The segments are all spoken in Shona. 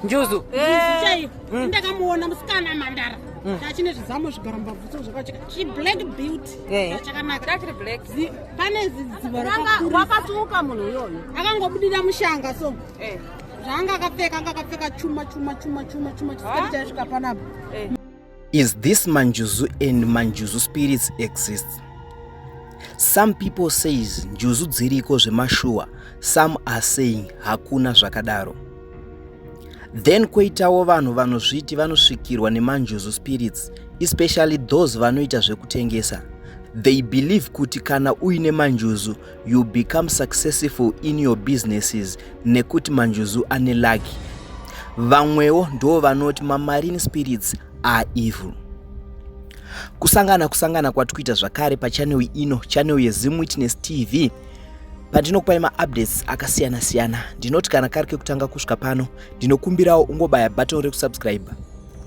njuzu eh. hmm. ndakamuona musikana mandara hmm. chachine zvizamo zvigara mbabvuso zvakacheka chiblack beauty eh. chakanaka pane zidzivaakatuka munhu uyoyo akangobudira mushanga so eh. zvaanga akapfeka anga akapfeka chuma chuma chuma chuma chuma chisikati chaisvika panapa Is this manjuzu and manjuzu spirits exists? Some people says njuzu dziriko zvemashuwa, some are saying hakuna zvakadaro. Then koitawo vanhu vanozviti vanosvikirwa nemanjuzu spirits, especially those vanoita zvekutengesa. They believe kuti kana uine manjuzu, you become successful in your businesses nekuti manjuzu ane lucky vamwewo ndo vanoti mamarine spirits are evil kusangana kusangana kwatikuita zvakare pachanel ino chanel yezim witness tv pandinokupai maupdates akasiyana siyana ndinoti kana kari kekutanga kusvika pano ndinokumbirawo ungobaya button rekusubscribe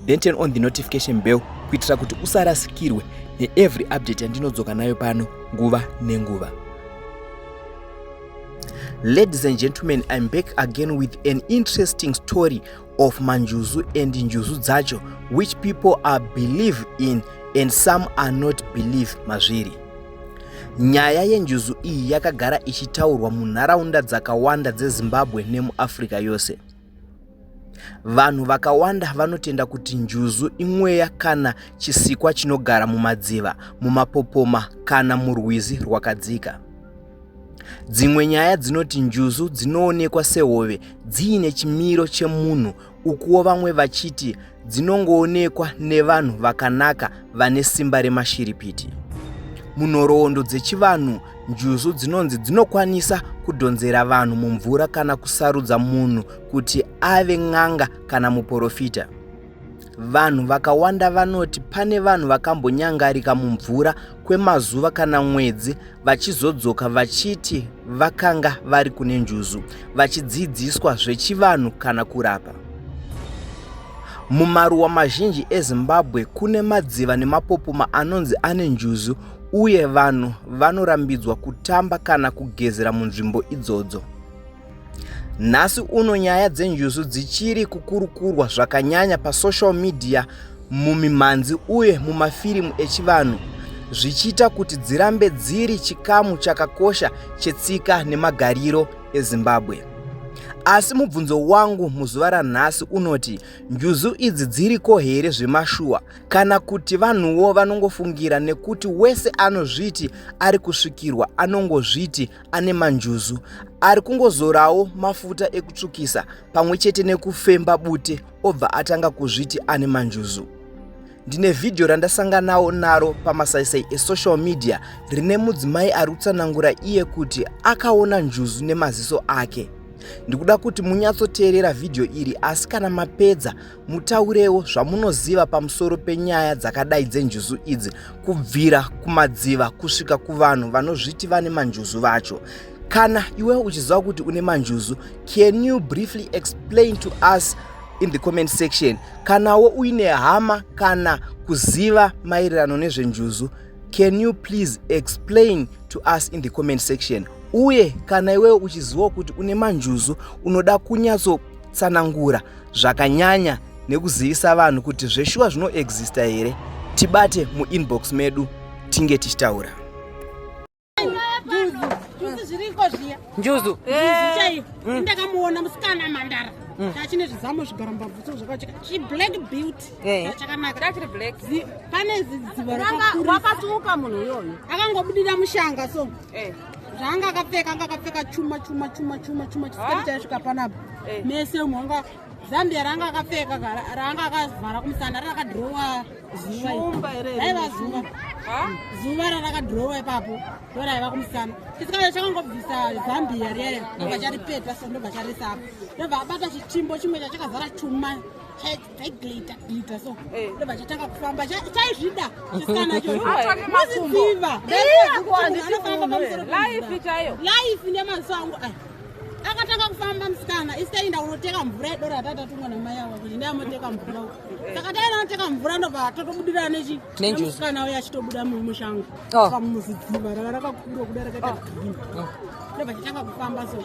then turn on the notification bell kuitira kuti usarasikirwe neevery update yandinodzoka nayo pano nguva nenguva ladies and gentlemen im back again with an interesting story of manjuzu and njuzu dzacho which people are believe in and some are not believe mazviri nyaya yenjuzu iyi yakagara ichitaurwa munharaunda dzakawanda dzezimbabwe nemuafrica yose Vanhu vakawanda vanotenda kuti njuzu imweya kana chisikwa chinogara mumadziva, mumapopoma kana murwizi rwakadzika. Dzimwe nyaya dzinoti njuzu dzinoonekwa sehove dziine chimiro chemunhu ukuwo vamwe vachiti dzinongoonekwa nevanhu vakanaka vane simba remashiripiti. Munhoroondo dzechivanhu, njuzu dzinonzi dzinokwanisa kudhonzera vanhu mumvura kana kusarudza munhu kuti ave n'anga kana muporofita. Vanhu vakawanda vanoti pane vanhu vakambonyangarika mumvura kwemazuva kana mwedzi vachizodzoka vachiti vakanga vari kune njuzu vachidzidziswa zvechivanhu kana kurapa mumaruwa mazhinji ezimbabwe kune madziva nemapopoma anonzi ane njuzu uye vanhu vanorambidzwa kutamba kana kugezera munzvimbo idzodzo Nhasi uno nyaya dzenjuzu dzichiri kukurukurwa zvakanyanya pasocial media, mumimhanzi uye mumafirimu echivanhu zvichiita kuti dzirambe dziri chikamu chakakosha chetsika nemagariro eZimbabwe. Asi mubvunzo wangu muzuva ranhasi unoti njuzu idzi dziriko here zvemashuwa kana kuti vanhuwo vanongofungira nekuti wese anozviti ari kusvikirwa anongozviti ane manjuzu ari kungozorawo mafuta ekutsvukisa pamwe chete nekufemba bute obva atanga kuzviti ane manjuzu ndine vhidhiyo randasanganawo naro pamasaisai esocial media rine mudzimai ari kutsanangura iye kuti akaona njuzu nemaziso ake ndikuda kuti munyatsoteerera vhidhiyo iri asi kana mapedza mutaurewo zvamunoziva pamusoro penyaya dzakadai dzenjuzu idzi kubvira kumadziva kusvika kuvanhu vanozviti vane manjuzu vacho kana iwe uchiziva kuti une manjuzu can you briefly explain to us in the comment section kanawo uine hama kana kuziva maererano nezvenjuzu can you please explain to us in the comment section uye kana iwewo uchizivawo kuti une manjuzu unoda kunyatso tsanangura zvakanyanya nekuzivisa vanhu kuti zveshuwa zvinoexista here tibate muinbox medu tinge tichitaura njuzu eh. hmm. ndakamuona musikana mandara hmm. achine zvizamo zvigara mbabvuso zvakacheka chiblack beauty eh. chakanakachiri black pane zidziva rakakura wakatuka munhu iyoyo akangobudira mushanga so eh. zvaanga akapfeka anga akapfeka chuma chuma chuma chuma chuma chisikati chaisvika panapa eh. mese umwe anga zambia raanga akapfeka raanga akavhara kumusana rakadhirowa zuva raiva zuva zuva rarakadhirowa ipapo ndo raiva kumusana chisikati chakangobvisa zambia riya ndobva charipeta so ndobva charisapo ndobva abata chitimbo chimwe chachakazara chuma taiglita glita so eh. ndobva chatanga kufamba chaizvida chisikanachoanofambaamusoroaife chaiyo laife nemaziso angu aya akatanga kufamba musikana isitainda kunoteka mvura yedoro yataita tumwa namai ava kuti ndayamoteka mvura uku eh. saka taenda noteka mvura ndobva totobudirana nechimusikana uya achitobuda mumushango oh. pamuzidziva rava rakakura kuda rakaita oh. green oh. ndobva chitanga kufamba so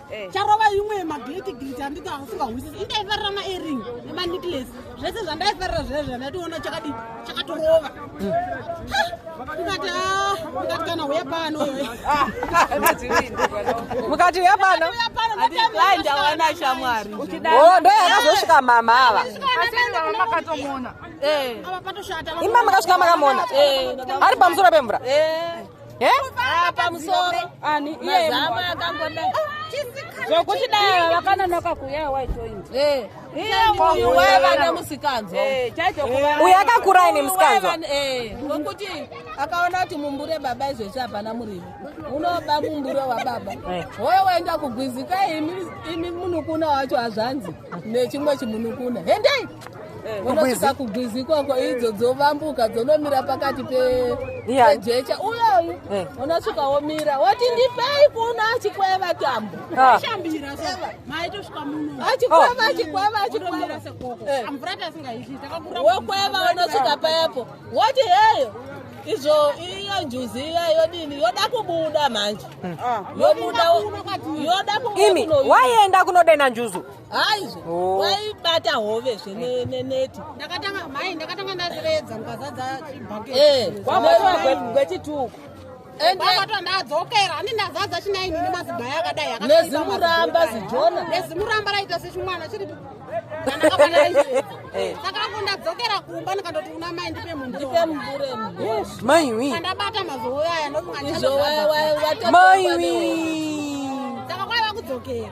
Eh. charova imwe yemagiriti giriti anditi asingahwisisi indaifarira maering emanicles zvese zvandaifarira zviya zviya ndaitoona chakadi chakatorova ndikati ah, ndikati kana uya pano ah, mukati uya pano ndawana shamwari oh, ndo yakazosvika mama ava eh. imba makasvika makamona eh, ari pamusoro pemvura pamusoro ani mazama akangoda zvokuti dai vakanonoka kuuya waitoint uyu waiva nemusikanzwa uyu akakura ine musikanzwa nokuti akaona kuti mumbure baba izvezvi hapana murivo unoba mumbure wababa hoyo waenda kugwizika imi munukuna wacho hazvanzi nechimwe chimunukuna hendei unosvika kugwizi ikoko idzo dzovambuka dzonomira pakati pejecha uyoyu eh. unosvika womira woti ndipei kuno achikweva tambo ah. achikweva oh. achikweva achikwevavokweva eh. unosvika payapo woti heyo izvo iyo njuzi iya yodini yoda kubuda manje hmm. ah. yoda kubuda imi waienda kunodena njuzu haizve oh. waibata hove zve neneti ndakatanga mai ndakatanga ndaziredza mukazadza chibhaketgwechituko abatwa ndadzokera ani ndazadza chinaini nemaziba yakadai nezimuramba zijona nezimuramba raita sechimwana chiri saka ako ndadzokera kumba ndikandoti una mai ndipe mumburemuburemuiwi andabata mazouyaya ndokumaizowaiwaiwatmaiwi saka kwaiva kudzokera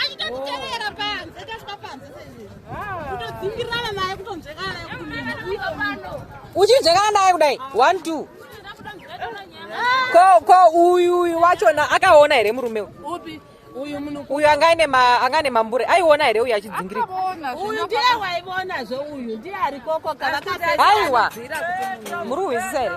achitokutevera panze tasvika panze kutodzingirana naye kutonzvekana naye uchinzvekana naye kudai one two ko ko uyu uyu wachona akaona here murume upi uyu munhu uyu anga ane ma anga ane mambure aiona here uyu achidzingirika uyu ndiye waiona zve uyu ndiye ari koko kana aiwa muri kuhwisisa here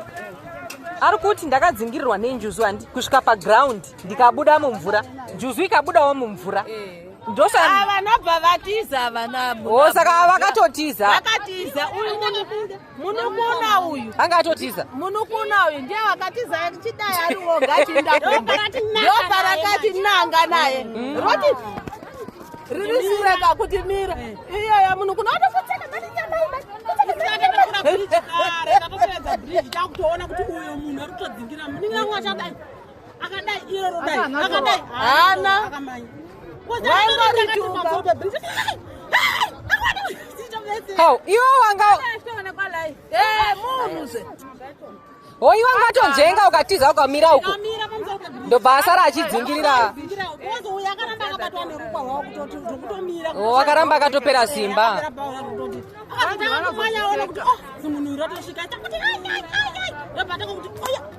ari kuti ndakadzingirirwa nenjuzu handi kusvika paground ndikabuda mumvura njuzu ikabudawo mumvura eh. ndosavanobva ah, vatiza vanavo oh, saka vakatotiza vakatiza uyu munukuna uyu anga atotiza munukuna uyu ndiye wakatiza chidai ari woga chindadopa rakati nanga naye mm. roti riri sireka kuti mira eh. iyoya munukuna otofutseka mati nyamai mati takutoona kuti uyo munhu ari kutodzingira muninga wachadai akadai iro rodai akadai hana How? Iwe wanga hoiwa ngatonjenga ukatiza ukamira uko ndobva asara achidzingirira wakaramba akatopera simba